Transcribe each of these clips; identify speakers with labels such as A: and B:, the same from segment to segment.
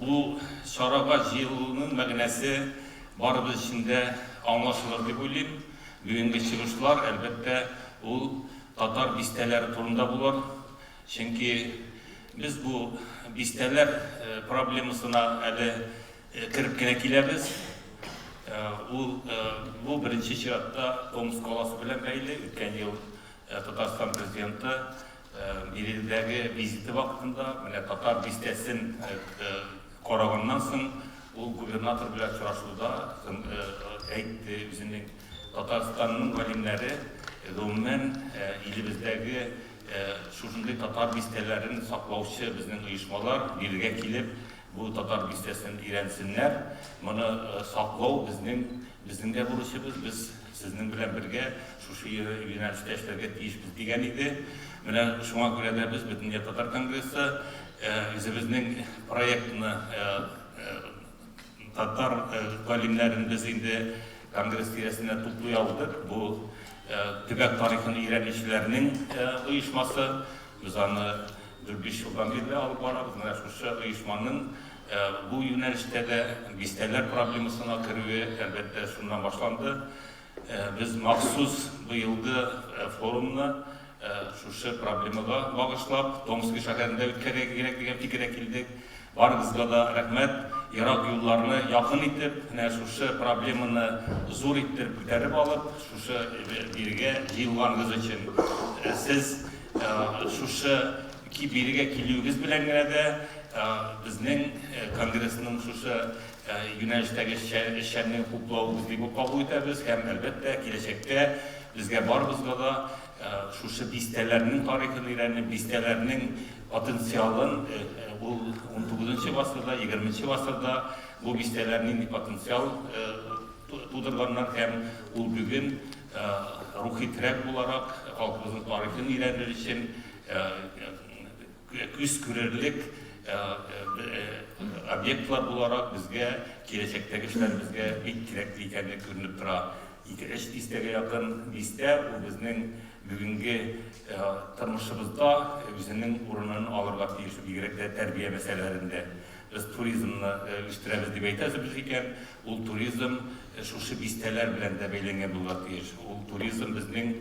A: Бу чарага җыелуның мәгънәсе барыбыз өчен дә аңлашылыр дип уйлыйм. Бүгенге чыгышлар, әлбәттә, ул татар бистәләре турында булыр. Чөнки без бу бистәләр проблемасына әле кереп кенә киләбез. Ул, бу беренче чиратта Томск каласы белән бәйле. Үткән ел Татарстан Президенты Ирекледәге визиты вакытында менә Татар бистәсен караганнан соң, ул губернатор белән очрашуда әйтте, үзенең Татарстанның галимнәре, гомумән, илебездәге шушындый татар бистәләрен саклаучы безнең оешмалар бирегә килеп, бу Татар бистәсен өйрәнсеннәр, моны саклау безнең Безнең дә бурычыбыз, без сезнең белән бергә шушы юнәлештә эшләргә тиешбез, дигән иде. Менә шуңа күрә дә без Бөтендөнья татар конгрессы үзебезнең проектны татар галимнәрен без инде конгресс тирәсенә туплый алдык. Бу төбәк тарихын өйрәнүчеләрнең оешмасы. Без аны дүрт-биш елдан бирле алып барабыз. Менә шушы оешманың Бу юнәлештә дә бистәләр проблемасына керүе, әлбәттә, шуннан башланды. Без махсус быелгы форумны шушы проблемага багышлап, Томски шәһәрендә үткәрергә кирәк дигән фикергә килдек. Барыгызга да рәхмәт. Ерак юлларны якын итеп, менә шушы проблеманы зур иттереп күтәреп алып, шушы бирегә җыелганыгыз өчен, сез шушы Ки бирегә килүегез белән генә дә безнең конгрессның шушы юнәлештәге эшчәнлеген хуплавыгыз дип үк кабул итәбез һәм, әлбәттә, киләчәктә безгә барыбызга да шушы бистәләрнең тарихын өйрәнеп, бистәләрнең потенциалын, ул унтугызынчы гасырда, егерменче гасырда бу бистәләр нинди потенциал тудырганнар һәм ул бүген рухи терәк буларак халкыбызның тарихын өйрәнер өчен Күз күрерлек объектлар буларак безгә киләчәктәге эшләребезгә бик кирәкле икәнлеге күренеп тора. Ике-өч дистәгә якын бистә ул безнең бүгенге тормышыбызда үзенең урынын алырга тиеш, бигрәк тә тәрбия мәсьәләләрендә. Без туризмны үстерәбез дип әйтәбез икән, ул туризм шушы бистәләр белән дә бәйләнгән булырга тиеш. Ул туризм безнең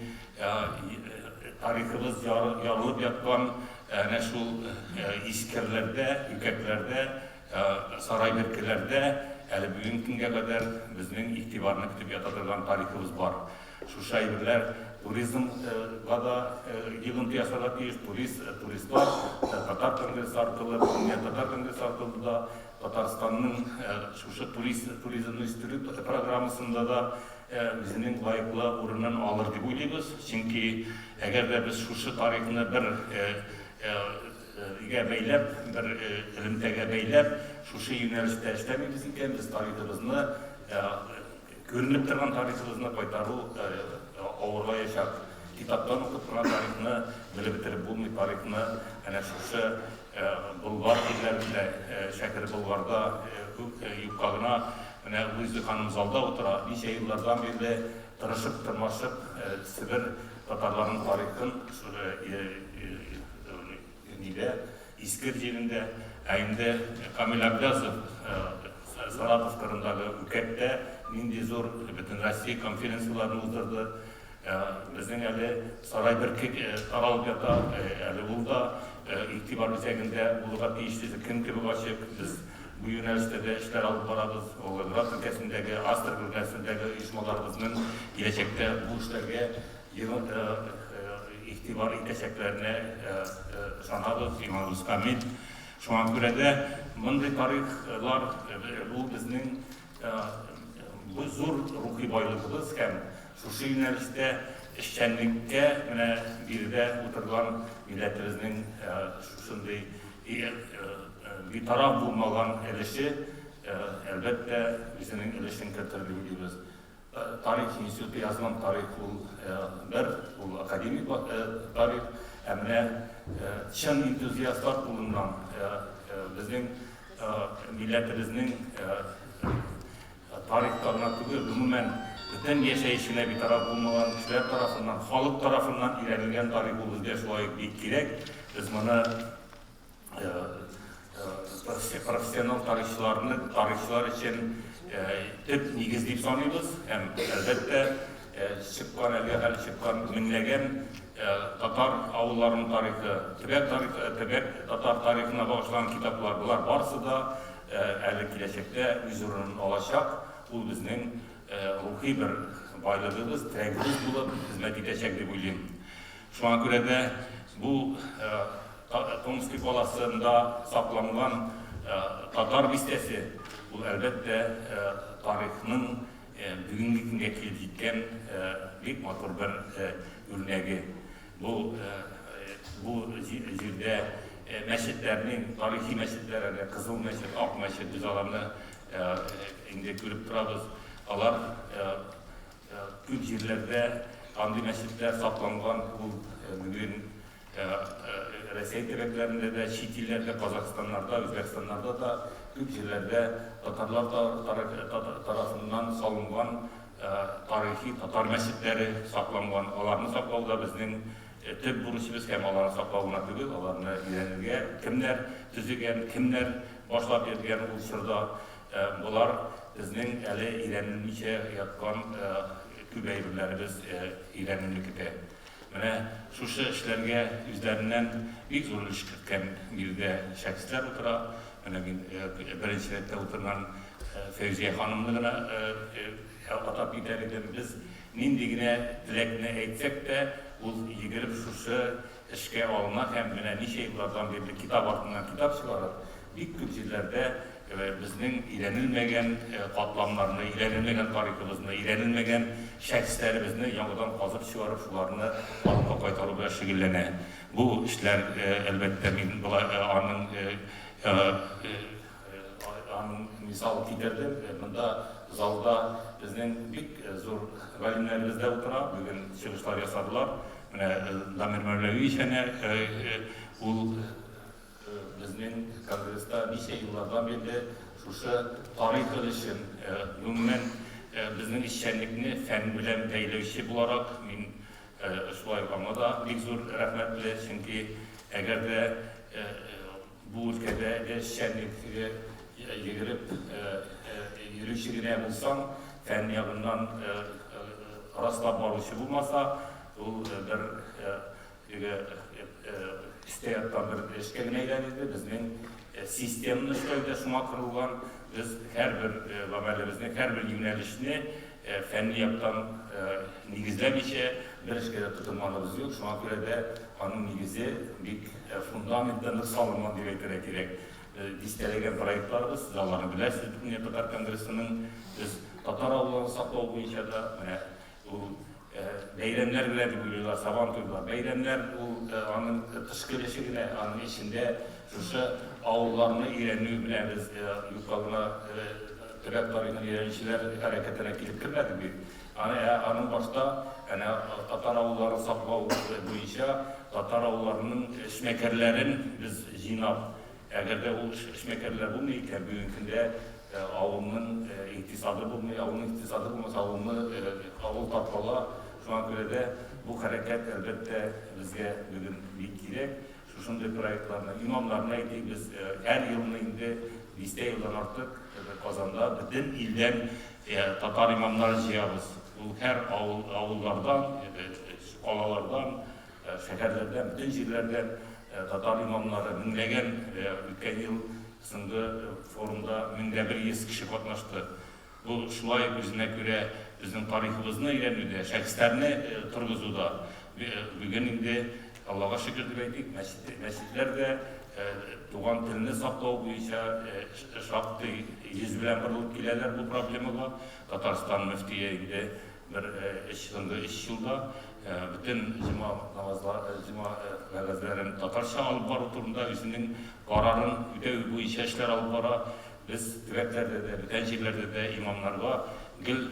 A: Тарихыбыз ярылып яткан әнә шул искерләрдә, үкәтләрдә, сарай беркеләрдә әле бүгенге көнгә кадәр безнең игътибарны көтеп ята торган тарихыбыз бар. Шушы әйберләр туризмга да йогынты ясарга тиеш. Туристлар Татар конгрессы аркылы, бүгенге Татар конгрессы аркылы да Татарстанның шушы туризмны үстерү программасында да үзенең лаеклы урынын алыр дип уйлыйбыз, чөнки әгәр дә без шушы тарихны бер гә бәйләп, бер элемтәгә бәйләп, шушы юнәлештә эшләмибез икән, без тарихыбызны, күренеп торган тарихыбызны кайтару авырлаячак. Китаптан укып торган тарихны белеп бетереп булмый, тарихны әнә шушы Болгар диләр менә, Шәкер Болгарда күк юкка гына. Менә Луиза ханым залда утыра, ничә еллардан бирле тырышып, тырмашып Себер татарларының тарихын нидә, Искер җирендә. Ә инде Камил Әблязов Саратов кырындагы Үкәттә нинди зур бөтенроссия конференцияләрен уздырды. Безнең әле сарай бертик каралып ята, әле ул да игътибар үзәгендә булырга тиеш дип, кем кебек ачык, без бу юнәлештә дә эшләр алып барабыз. Волгоград өлкәсендәге, Астрахань өлкәсендәге оешмаларыбызның киләчәктә бу эшләргә игътибар итәчәкләренә ышанабыз, иманыбыз камил. Шуңа күрә дә мондый тарихлар, бу безнең Бу зур рухи байлыгыбыз һәм шушы юнәлештә эшчәнлеккә менә биредә утырган милләтебезнең шушындый битараф булмаган өлеше, әлбәттә, үзенең өлешен кертерде, дибез. Тарих институты язган тарих ул бер, ул академик тарих, ә менә чын энтузиастлар кулыннан безнең милләтебезнең тарихка гына түгел, гомумән, бөтен яшәешенә битараф булмаган кешеләр тарафыннан, халык тарафыннан өйрәнелгән тарих ул безгә шулай ук бик кирәк. Без моны профессионал тарихчыларны тарихчылар өчен төп нигез дип саныйбыз һәм әлбәттә чыккан әлегә хәл чыккан меңләгән татар авылларының тарихы төбәк тарихы төбәк татар тарихына багышланган китаплар болар барысы да әле киләчәктә үз урынын алачак ул безнең рухи бер байлыгыбыз терәгебез булып хезмәт итәчәк дип уйлыйм Шуңа күрә дә бу Томски каласында сакланган Татар бистәсе, ул, әлбәттә, тарихның бүгенге көнгә килеп җиткән бик матур бер үрнәге. Бу бу җирдә мәчетләрнең, тарихи мәчетләр әле, Кызыл мәчет, Ак мәчет, без аларны инде күреп торабыз. Алар Күп җирләрдә андый мәчетләр сакланган ул бүген Рәсәй төбәкләрендә дә, чит илләрдә, Казахстаннарда, Үзбәкстаннарда да күп җирләрдә татарлар тарафыннан салынган тарихи татар мәчетләре сакланган. Аларны саклау да безнең төп бурычыбыз һәм аларны саклау гына түгел, аларны өйрәнергә, кемнәр төзегән, кемнәр башлап йөргән ул чорда, Болар безнең әле өйрәнелмичә яткан күп әйберләребез өйрәнүне көтә. Менә шушы эшләргә үзләреннән бик зур өлеш керткән биредә шәхесләр утыра. Менә мин беренче рәттә утырган Фәүзия ханымны гына атап китәр идем. Без нинди генә теләкне әйтсәк тә, ул йөгереп шушы эшкә алына һәм менә ничә еллардан бирле китап артыннан китап чыгара, бик күп җирләрдә безнең өйрәнелмәгән катламнарны, өйрәнелмәгән тарихыбызны, өйрәнелмәгән шәхесләребезне яңадан казып чыгарып, шуларны халыкка кайтару белән шөгыльләнә. Бу эшләр, әлбәттә, мин болай аның Аның мисалын китердем. Монда залда безнең бик зур галимнәребез дә утыра. Бүген чыгышлар ясадылар. Менә Дамир Мәүләвиевич әнә ул безнең конгресста ничә еллардан бирле шушы тарихыбыз өчен, гомумән, безнең эшчәнлекне фән белән бәйләүче буларак, мин шулай ук аңа да бик зур рәхмәтле, чөнки әгәр дә Бу өлкәдә эшчәнлек йөгереп йөрүче генә булсаң, фән ягыннан раслап баручы булмаса, ул бер теге өстә яткан бер эшкә генә әйләнерде. Безнең системныш та инде шуңа корылган. Без һәрбер гамәлебезне, һәрбер юнәлешне Ә фәнни яктан нигезләмичә бер эшкә дә тотынганыбыз юк, шуңа күрә дә аның нигезе бик, фундаменты нык салынган дип әйтергә кирәк. Дистәләгән проектларыбыз, сез аларны беләсез, Бөтендөнья татар конгрессының, без татар авылларын саклау буенча да, менә ул Бәйрәмнәр белән дип уйлыйлар, Сабан туйлар. Бәйрәмнәр ул аның тыш көлеше генә, аның эчендә шушы авылларны өйрәнү белән без юкка гына төбәк тарихын өйрәнүчеләр хәрәкәтенә килеп кермәдек бит. Аны аның башта әнә татар авылларын саклау буенча татар авылларының эшмәкәрләрен без җыйнап Әгәр дә ул эшмәкәрләр булмый икән, бүгенге көндә авылның икътисады булмый, авылның икътисады булмаса, авыл таркала. Шуңа күрә дә бу хәрәкәт, әлбәттә, безгә бүген бик кирәк. Шушындый проектларны, имамнарны әйтик, без һәр елны инде дистә елдан артык Казанда бөтен илдән татар имамнарын җыябыз. Ул һәр авыллардан, калалардан. Шәһәрләрдә, бөтен җирләрдә татар имамнары, меңләгән, үткән ел соңгы форумда мең дә бер йөз кеше катнашты. Бу шулай үзенә күрә безнең тарихыбызны өйрәнүдә, шәхесләрне торгызуда. Бүген инде, Аллага шөкер дип әйтик, мәчетләр дә туган телне саклау буенча шактый йөз белән борылып киләләр бу проблемага. Татарстан мөфтие инде Бер өч соңгы өч елда бөтен җома намазлары, җома вәгазьләрен татарча алып бару турында үзенең карарын үтәү буенча эшләр алып бара. Без төбәкләрдә дә, бүтән җирләрдә дә имамнарга гел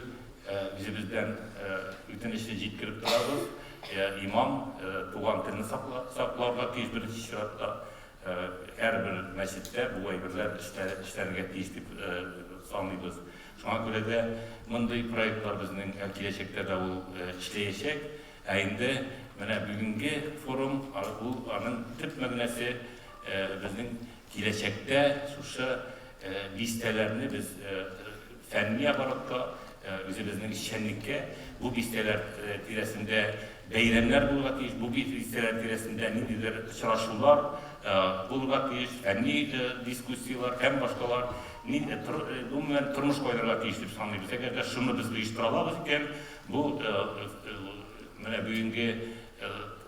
A: үзебездән үтенечне җиткереп торабыз. Имам туган телне сакларга тиеш беренче чиратта. Һәрбер мәчеттә бу әйберләр эшләргә тиеш дип саныйбыз. Шуңа күрә дә мондый проектлар безнең киләчәктә дә ул эшләячәк. Ә инде менә бүгенге форум, ул аның төп мәгънәсе, безнең киләчәктә шушы бистәләрне без фәнни оборотка, үзебезнең эшчәнлеккә, бу бистәләр тирәсендә Бәйрәмнәр булырга тиеш, бу бизисә тирәсендә ниндидер очрашулар булырга тиеш, фәнни дискуссияләр һәм башкалар, ни, тор, гомумән, тормыш кайнарга тиеш дип саныйбыз. Әгәр дә шуны без оештыра алабыз икән, бу менә бүгенге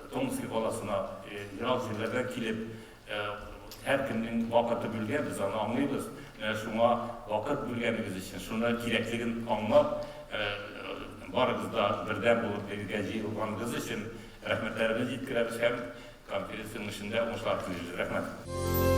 A: Томски каласына ерак җирләрдән килеп Һәркемнең вакыты бүлгән, без аны аңлыйбыз. Менә шуңа вакыт бүлгәнегез өчен, шуны кирәклеген аңлап, барыгыз да бердәм булып бергә җыелганыгыз өчен рәхмәтләребезне җиткерәбез һәм конференция уңышында уңышлар телибез. Рәхмәт.